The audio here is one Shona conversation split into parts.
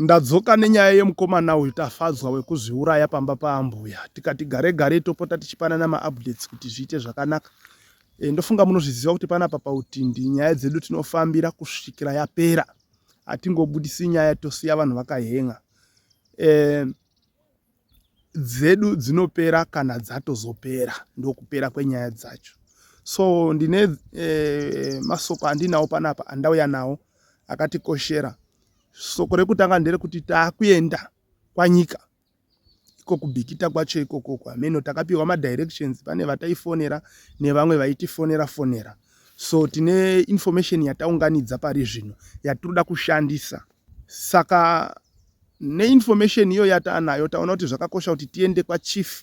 Ndadzoka nenyaya yemukomana uyu Tafadzwa wekuzviuraya pamba paambuya tikati gare gare topota tichipanana maupdates kuti zviite zvakanaka e, ndofunga munozviziva kuti panapa pautindi nyaya dzedu tinofambira kusvikira yapera hatingobudisi nyaya tosiya vanhu vakahen'a e, dzedu dzinopera kana dzatozopera ndokupera kwenyaya dzacho so ndine eh, masoko andinawo panapa andauya nawo akatikoshera soko rekutanga nderekuti taakuenda kwanyika iko kubhikita kwacho ikoko kwameno takapiwa madirections pane vataifonera nevamwe vaitifonera fonera so tine information yataunganidza pari zvino yatinoda kushandisa Saka neinformation iyo yataanayo taona kuti zvakakosha kuti tiende kwachief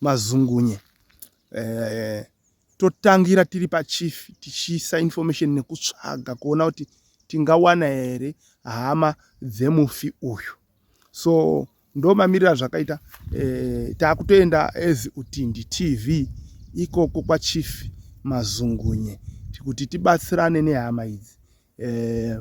mazungunye eh, totangira tiri pachief tichiisa information nekutsvaga kuona kuti tingawana here hama dzemufi uyu so ndo mamiriro azvakaita eh, takutoenda as utindi tv ikoko kwachief mazungunye kuti tibatsirane nehama idzi eh,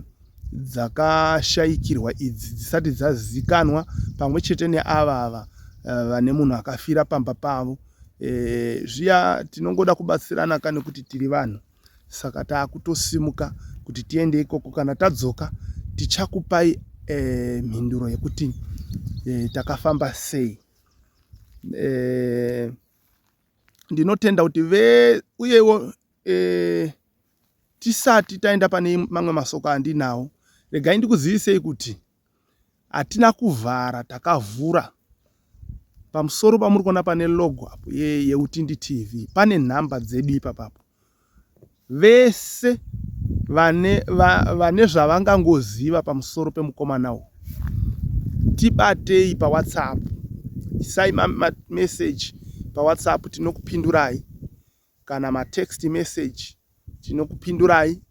dzakashayikirwa idzi dzisati dzazikanwa pamwe chete neava ava eh, vane uh, munhu akafira pamba pavo eh, zviya tinongoda kubatsirana ka nekuti tiri vanhu saka takutosimuka kuti tiende ikoko kana tadzoka tichakupai eh, mhinduro yekuti eh, takafamba sei eh, ndinotenda kuti ve uyewo eh, tisati taenda pane mamwe masoko andinawo regai ndikuzivisei kuti hatina kuvhara takavhura pamusoro pamuri kuona pane logo apo yeutindi tv pane nhamba dzedu ipapapo vese vane, va, vane zvavangangoziva pamusoro pemukomana uyu tibatei pawhatsapp isai mameseji pawhatsapp tinokupindurai kana matext message tinokupindurai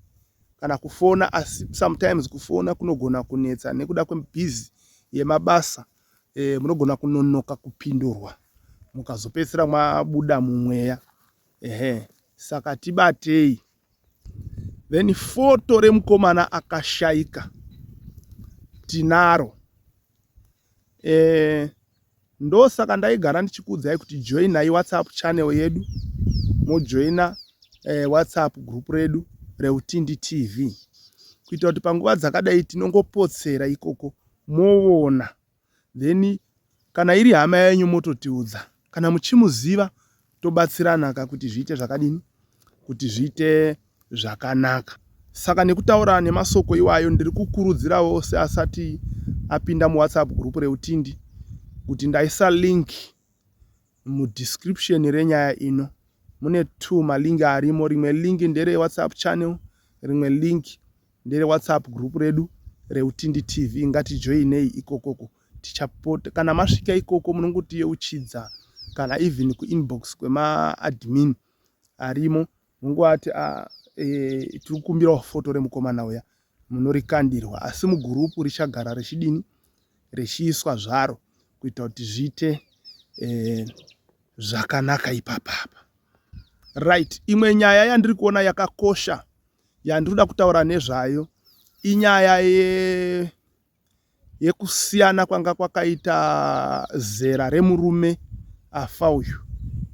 kana kufona asi sometimes kufona kunogona kunetsa nekuda kwebhizi yemabasa e, munogona kunonoka kupindurwa mukazopedzisira mwabuda mumweya ehe saka tibatei then foto remukomana akashaika tinaro eh, ndosaka ndaigara ndichikuudzai kuti joinai whatsapp channel yedu mojoina eh, whatsapp group redu reutindi tv kuita kuti panguva dzakadai tinongopotsera ikoko movona then kana iri hama yenyu mototiudza kana muchimuziva tobatsirana ka kuti zviite zvakadini kuti zviite zvakanaka saka nekutaura nemasoko iwayo ndiri kukurudzirawo seasati apinda muwhatsapp group reutindi kuti ndaisa link mudescription renyaya ino mune two malink arimo rimwe link ndere whatsapp channel rimwe link ndere whatsapp group redu reutindi tv ngatijoinei ikokoko tichapota kana masvika ikoko munongotiyeuchidza kana even kuinbox kwemaadmin arimo mungovati ah, eh, tiri kukumbirawo foto remukomana uya munorikandirwa asi mugurupu richagara richidini richiiswa zvaro kuita kuti zviite eh, zvakanaka ipapapa right imwe nyaya yandiri kuona yakakosha yandiri kuda kutaura nezvayo inyaya ye yekusiyana kwanga kwakaita zera remurume afa uyu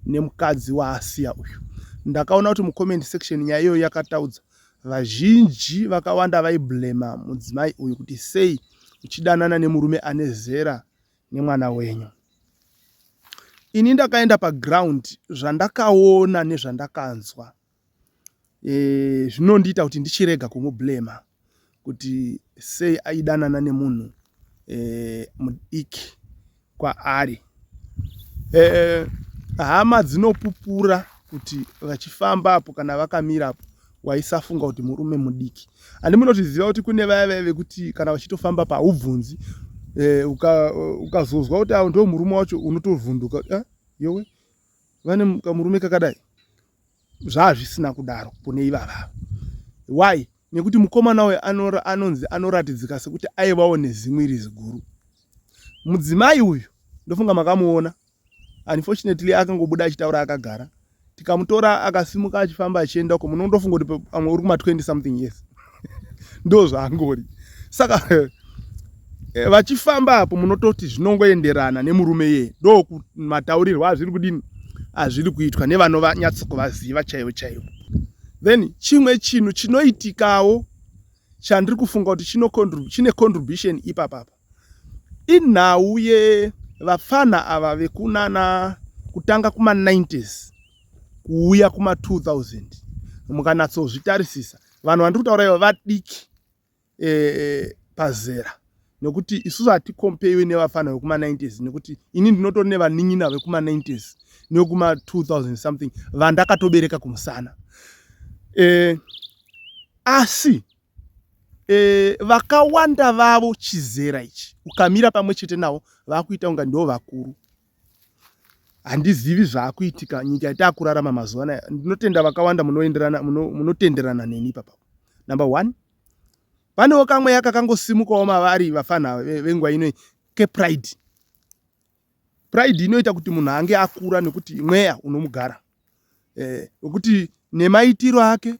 nemukadzi waasiya uyu. Ndakaona kuti mucomment section nyaya iyoyo yakataudza vazhinji vakawanda vaiblema mudzimai uyu kuti sei uchidanana nemurume ane zera nemwana wenyu. Ini ndakaenda paground zvandakaona nezvandakanzwa eh, zvinondiita kuti ndichirega kumublema kuti sei aidanana nemunhu eh, mudiki kwaari eh, hama dzinopupura kuti vachifamba apo kana vakamira apo waisafunga kuti murume mudiki handi munotiziva kuti kune vaya vaya vekuti kana vachitofamba paubvunzi eh, ukazozwa uka kuti awo ndo murume wacho unotovhunduka eh, yowe vane kamurume kakadai zvaazvisina kudaro kune ivavava why nekuti mukomana uyo anonzi anoratidzika sekuti aivawo nezimwe iri ziguru mudzimai uyu ndofunga makamuona unfortunately akangobuda achitaura akagara tikamutora akasimuka achifamba achienda uko munondofunga kuti pamwe uri kuma 20 something years ndozvaangori saka eh, vachifamba apo munototi zvinongoenderana nemurume yeye ndokumataurirwa azviri kudini azviri kuitwa nevanonyatsokuvaziva chaivo chaivo then chimwe chinhu chinoitikawo chandiri kufunga kuti chine contribution ipapapa inhau yevapfanha ava vekunana kutanga kuma90s kuuya kuma2000 mukanatsozvitarisisa vanhu vandiri kutaura ivo vadiki e, e, pazera nokuti isusu hatikompeiwe nevafana vekuma90s nekuti ini ndinotori nevanin'ina vekuma90s nekuma2000 something vandakatobereka kumusana e, asi e, vakawanda vavo chizera ichi ukamira pamwe chete navo vakuita kunga ndo vakuru handizivi zvaakuitika nyika yataakurarama mazuva anaya ndinotenda vakawanda munoenderana munotenderana neni ipapa number one panewo kamweya kakangosimukawo mavari vafanha venguva ino kepride pride inoita kuti munhu ange akura nekuti mweya unomugara eh, wekuti eh, nemaitiro ake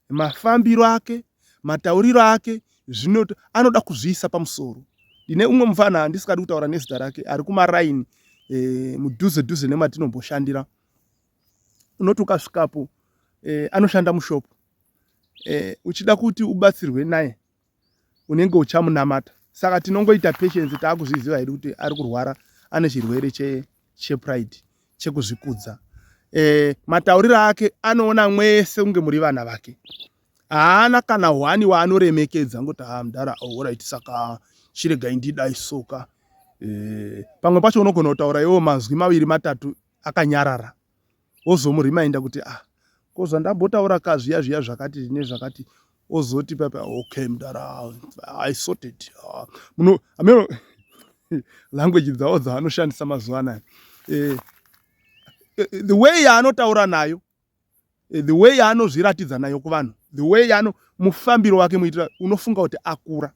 mafambiro ake matauriro ake zvino anoda kuzviisa pamusoro ndine umwe mufana handisikadi kutaura nezita rake ari kumaraini e, eh, mudhuze dhuze nematinomboshhandira unoti ukasvikapo e, anoshanda mushopu e, uchida kuti ubatsirwe naye unenge uchamunamata saka tinongoita patience taakuzviziva hedu kuti ari kurwara ane chirwere chepride che chekuzvikudza e, matauriro ake anoona mwese kunge muri vana vake haana kana hwani waanoremekedza ngoti ha ah, mdara orit oh, saka chiregai ndidai soka e, pamwe pacho unogona kutaura iwo manzwi maviri matatu akanyarara ozomurimainda kuti ah ko zvandambotaura ka zviya zviya zvakati nezvakati ozoti papa okay mdara i sorted ah, muno ameno language dzawo dzaanoshandisa mazuva anaya eh, eh, the way yaanotaura nayo eh, the way yaanozviratidza nayo kuvanhu the way yaano mufambiro wake muitira unofunga kuti akura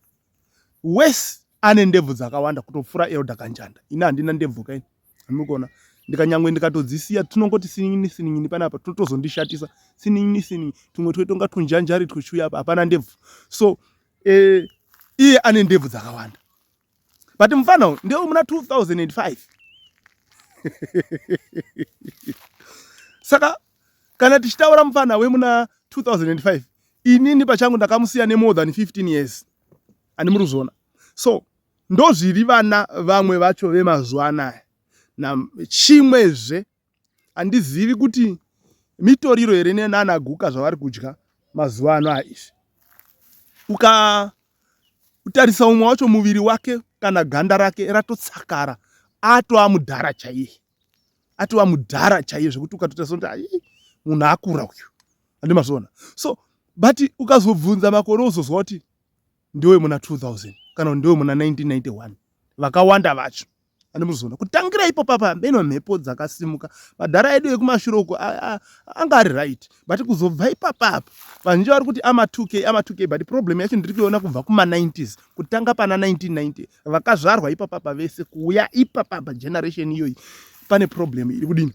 wes ane ndebvu dzakawanda kutopfura elder kanjanda ini handina ndebvu kaini mukuona ndikanyangwe ndikatodzisiya tinongoti sinin'ini sinin'ini panapa totozondishatisa sinin'ini sinin'ini tumwe twetonga tunjanjari twuchiuya apa hapana ndebvu so eh, iye ane ndebvu dzakawanda but mufana uyu ndewe muna 2005 saka kana tichitaura mufana wemuna 2005 inini pachangu ndakamusiya nemore than 15 years ani muri kuzviona so Ndozviri vana vamwe vacho vemazuva anaya. Chimwezve handizivi kuti mitoriro here nana guka zvavari kudya mazuva ano aizvi. Uka kutarisa umwe wacho muviri wake kana ganda rake ratotsakara atova mudhara chaiye atova mudhara chaiye zvekuti ukatotarisa kuti ai munhu akura uyu andimazviona so but ukazobvunza makore uzozwa kuti ndewemuna 2000 kana kuti ndewemuna 1991 vakawanda vacho ane muzoona kutangira ipo papa hambeno mhepo dzakasimuka madhara edu ekumashure uko anga ari right but kuzobva ipapa apa vazhinji vari kuti ama 2k ama 2k but problem yacho ndiri kuiona kubva kuma 90s kutanga pana 1990 vakazvarwa ipapapa vese kuuya ipapapa generation iyoyi pane problem iri kudini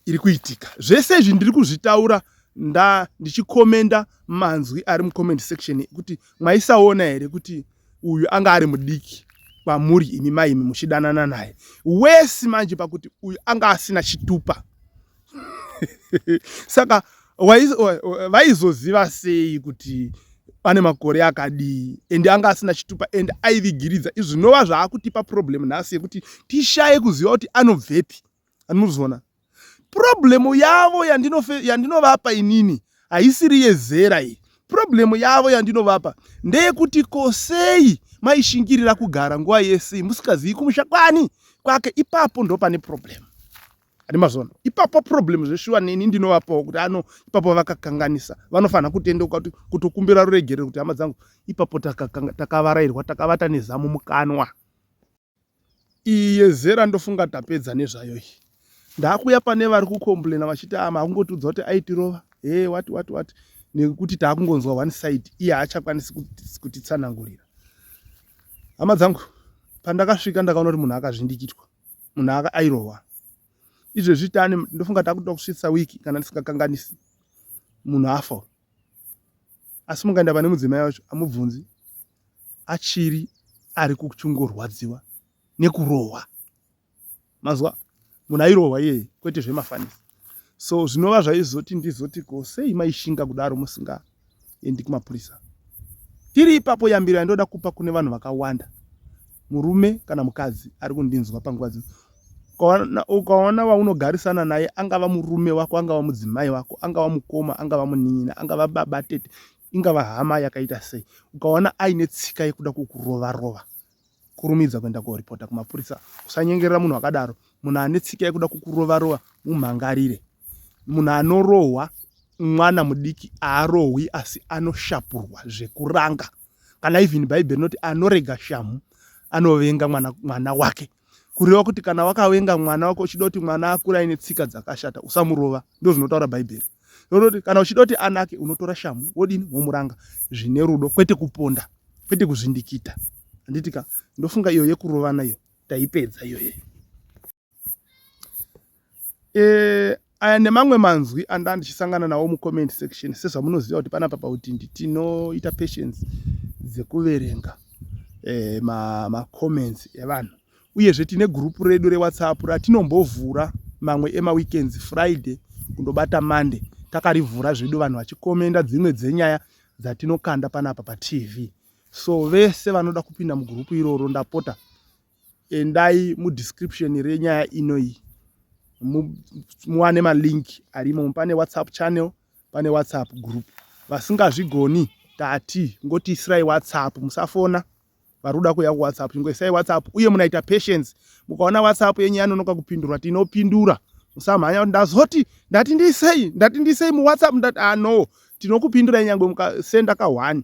iri kuitika zvese izvi ndiri kuzvitaura nda ndichikomenda manzwi ari mucomment section ekuti mwaisaona here kuti uyu anga ari mudiki kwamuri imi maimi muchidanana naye wesi manje pakuti uyu anga asina chitupa saka vaizoziva sei kuti ane makore akadii and anga asina chitupa and aivigiridza izvinova zvaakutipa problem nhasi yekuti tishaye kuziva kuti anobvepi anozviona problemu yavo yandinovapa inini haisiri yezera iyi problemu yavo yandinovapa ndeyekuti kosei maishingirira kugara nguva yese musikazivi kumusha kwani kwake ipapo ndo pane problemu ane mazona ipapo problemu zveshuwa neni ndinovapawo kuti ano ipapo vakakanganisa vanofanira kutendeuka kutokumbira ruregerero kuti hama dzangu ipapo takavarairwa takavata nezamu mukanwa iyi yezera ndofunga tapedza nezvayo iyi ndakuya pane vari kucomplaina vachiti ama ah, akungotiudza kuti aitirova he wati wati wati nekuti taakungonzwa one side iye haachakwanisi kutitsanangurira hama dzangu pandakasvika ndakaona kuti munhu akazvindikitwa munhu aka airohwa izvezvi tane ndofunga takuda kusvitsa wiki kana ndisingakanganisi munhu afa asi mungaenda pane mudzimai wacho amubvunzi achiri ari kuchingorwadziwa nekurohwa mazwa munhu airohwa iyeye kwete zvemafanisi so zvinova zvaizoti ndizoti ko sei maishinga kudaro musingaendi kumapurisa tiri ipapo yambiro yandoda kupa kune vanhu vakawanda murume kana mukadzi ari kundinzwa panguva dzino ukaona vaunogarisana naye angava murume wako angava mudzimai wako angava mukoma angava munin'ina angava baba tete ingava hama yakaita sei ukaona aine tsika yekuda kukurova rova kurumidza kuenda koripota kumapurisa usanyengerera munhu akadaro munhu ane tsika yekuda kukurova rova mumhangarire munhu anorohwa mwana mudiki aarohwi asi anoshapurwa zvekuranga kana even bhaibheri rinoti anorega shamhu anovenga mwana, mwana wake kureva kuti kana wakavenga mwana wako uchida kuti mwana akure aine tsika dzakashata usamurova ndo zvinotaura bhaibheri rinoti kana uchida kuti anake unotora shamu wodini womuranga zvine rudo kwete kuponda kwete kuzvindikita handiti ka ndofunga iyo yekurovana iyo taipedza iyoyeyo Eh, aya nemamwe manzwi anda ndichisangana nawo mucomment section sezvamunoziva kuti panapa pautindi tinoita patience dzekuverenga eh, macomments ma evanhu uyezve tine gurupu redu rewhatsapp ratinombovhura mamwe emaweekends friday kundobata monday takarivhura zvedu vanhu vachikomenda dzimwe dzenyaya dzatinokanda panapa patv so vese vanoda kupinda mugurupu iroro ndapota endai mudescription renyaya ino iyi muwane malink arimo pane whatsapp channel pane whatsapp group vasingazvigoni tati ngoti isirai whatsapp musafona vari kuda kuuya kuwhatsapp chingoisai whatsapp uye munaita patience mukaona whatsapp yenyu yanonoka kupindurwa tinopindura musamhanya kuti ndazoti ndati ndisei ndati ndisei muwhatsapp ndati ano ah, tinokupindurai nyangwe mukasenda ka one